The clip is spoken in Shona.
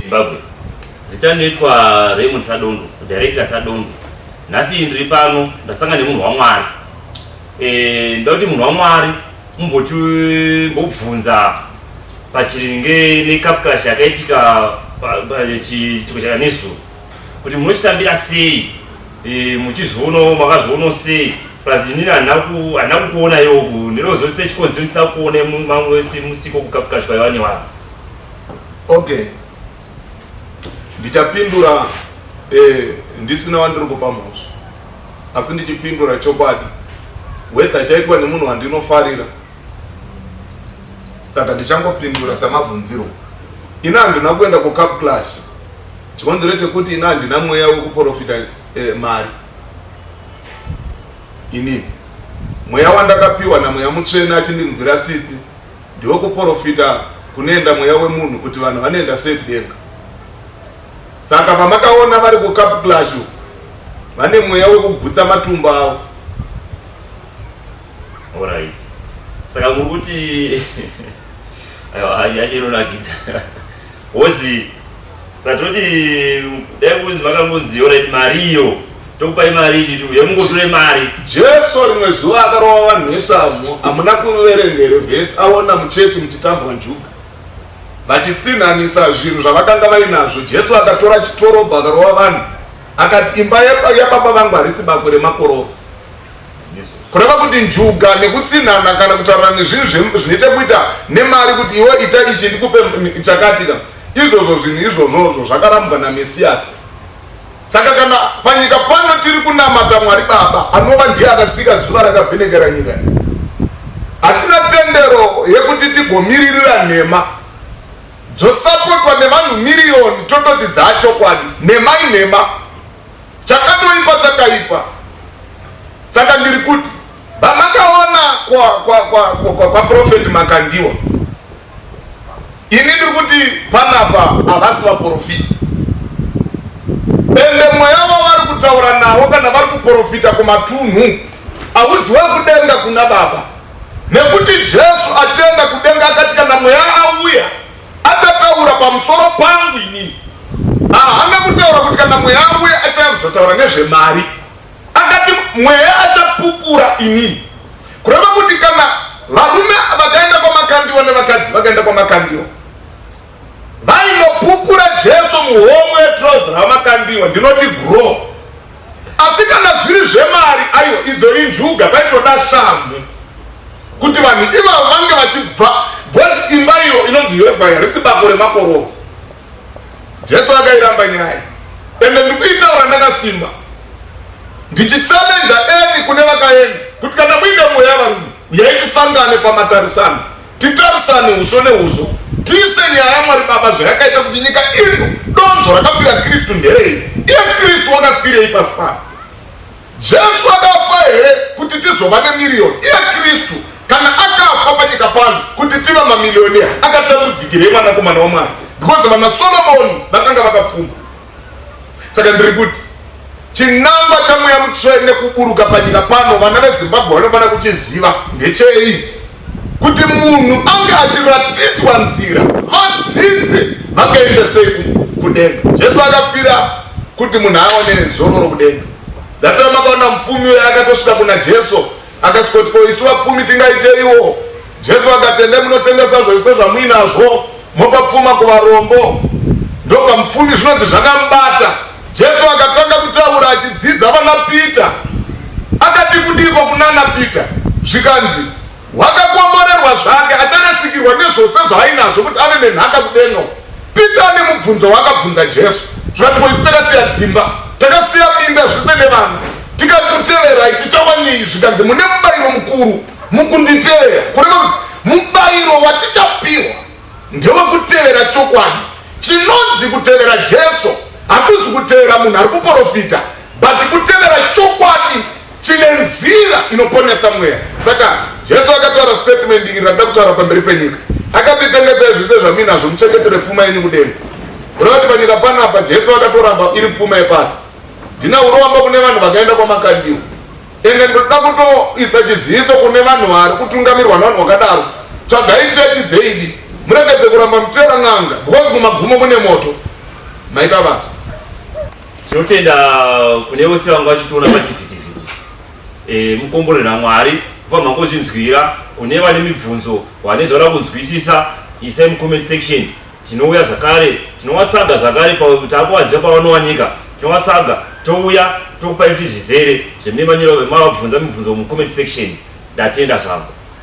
Zimbabwe. Zita rinoitwa Raymond Sadondo, director Sadondo. Nhasi ndiri pano ndasanga nemunhu waMwari. Eh, ndoda kuti munhu waMwari mumboti mbobvunza pachiringe nekapkash yakaitika chiitiko chakanezuro kuti munochitambira sei eh, muchizoonawo makazoonawo sei plus inini handina kukuona iwoku ndinozosei chikonzero chisina kuona mamwe musiko kukapkash kwaiwa newanhu Okay. Ndichapindura eh, ndisina wandiri kupa mhosva asi ndichipindura chokwadi whether chaitwa nemunhu wandinofarira saka ndichangopindura samabvunziro ini handina kuenda kucup clash chikonzero chekuti ini handina mweya wekuprofita eh, mari inini mweya wandakapiwa namweya mutsvene achindinzwira tsitsi Ndiwe kuporofita kunoenda mweya wemunhu kuti vanhu vanoenda sei kudenga. Saka pamakaona vari kucup clash vane mweya wekugutsa matumbu avo. Alright. Saka muri kuti ayo ayo achero nagidza. Wozi Satoti dai kunzi vakangoziva right mari iyo tokupai mari ichi tiuye mungotore mari. Jesu rimwe zuva akarova vanhu veShamhu hamuna kuverengere vhesi aona muchechi muchitambwa njuga vachitsinhanisa zvinhu zvavakanga vainazvo. Jesu akatora chitorobho akarova vanhu akati imba yababa vangu harisi bako remakororo. kureva kuti njuga nekutsinhana kana kutaura nezvinhu zvine chekuita nemari kuti iwe ita ichi ndikupe chakatika izvozvo zvinhu izvozvozvo zvakarambwa namesiyasi saka kana panyika pano tiri kunamata mwari baba anova ndiye akasika zuva rakavhenekera nyika iyi hatina tendero yekuti tigomiririra nhema dzosapotwa nevanhu miriyoni tototi dzaachokwadi nhema inhema Chakatoipa chakaipa. Saka ndiri kuti vamakaona kwa kwa kwa kwa, kwa, kwa prophet Makandiwa. Ini ndiri kuti panapa havasi vaprofiti. Ende mweya wavari kutaura nawo kana vari kuprofita kumatunhu hauziwe kudenga kuna baba. Nekuti Jesu achienda kudenga akati kana mweya auya Achataura pamusoro pangu inini. Haana kutaura kuti kana mweya auya achauya kuzotaura nezvemari. Akati mweya achapupura inini. Kureva kuti kana varume vakaenda kwamakandiwa nevakadzi vakaenda kwamakandiwa vainopupura Jesu muhomwe yetrozi ramakandiwa ndinoti grow Asi kana zviri zvemari aiwa idzo injuga paitoda shamhu kuti vanhu ivavo vange vachibva bcause imba iyo inonzi yehova yarisi bako remakororo jesu akairamba nyaya ende ndikuitaura ndakasimba ndichichallenja eni kune vakaenda kuti kana muine mweya varume uyai tisangane pamatarisano Titarisane huso nehuso tise nyaya yaMwari Baba zvayakaita kuti nyika ino donzvo rakafira Kristu nderei? Iye Kristu wakafirei pasi pano? Jesu akafa here kuti tizova nemiriyoni? Iye Kristu kana akafa panyika pano kuti tive mamiliyoni akatambudzikirei mwanakomana waMwari? Because vanaSolomoni vakanga vakapfuma. saka ndiri kuti chinangwa chamweya mutsvene kuburuka panyika pano vana vezimbabwe vanofanira kuchiziva ndechei kuti munhu ange achiratidzwa nzira vadzidze vakaenda sei kudenga jesu akafira kuti munhu aone zororo kudenga that's why makaona mupfumi uyo akatosvika kuna jesu Akasvikoti, Ko isu vapfumi tingaiteiwo? Jesu akati, Endai munotengesa zvese zvamuinazvo, mopa pfuma kuvarombo, ndopa mupfumi. Zvinonzi zvakamubata. Jesu akatanga kutaura achidzidza vana Pita. Akati, Kudiko kunana Pita? Zvikanzi, Wakakomborerwa zvake, acharasikirwa nezvose zvaainazvo kuti ave nenhaka kudenga uko. Pita ane mubvunzo waakabvunza Jesu zvati boisi takasiya dzimba takasiya minda zvese nevanhu tikakuteverai tichawanei zvikanzi mune mubairo mukuru mukunditevera kureva kuti mubairo watichapihwa ndewekutevera chokwadi chinonzi kutevera Jesu hakuzi kutevera munhu ari kuporofita but kutevera chokwadi Tine nzira inoponesa mweya. Saka Jesu akataura statement iri rakuda kutaura pamberi penyika. Akati tengesai zvese zvamuinazvo muchengetere pfuma yenyu kudenga. Kureva kuti panyika panapa Jesu akatoramba iri pfuma yepasi. Ndina uromba kune vanhu vakaenda kwamakandiwa. Ende ndoda kutoisa chiziviso kune vanhu vari kutungamirwa nevanhu vakadaro. Tsvagai chechi dzeidi. Muregedze kuramba muchitera n'anga because kumagumo kune moto. Maita basa. Tinotenda kune vose vanga vachitiona pachivhitivhiti. E, mukomborera Mwari kuva mangozvinzwira. Kune vane mibvunzo, vane zvavada kunzwisisa, isai mucomment section. Tinouya zvakare, tinovatsvaga zvakare takuvaziva pavanowanika, tinovatsvaga touya tokupai kuti zvizere zvemune manyora vemavabvunza mibvunzo mucomment section. Ndatenda zvangu.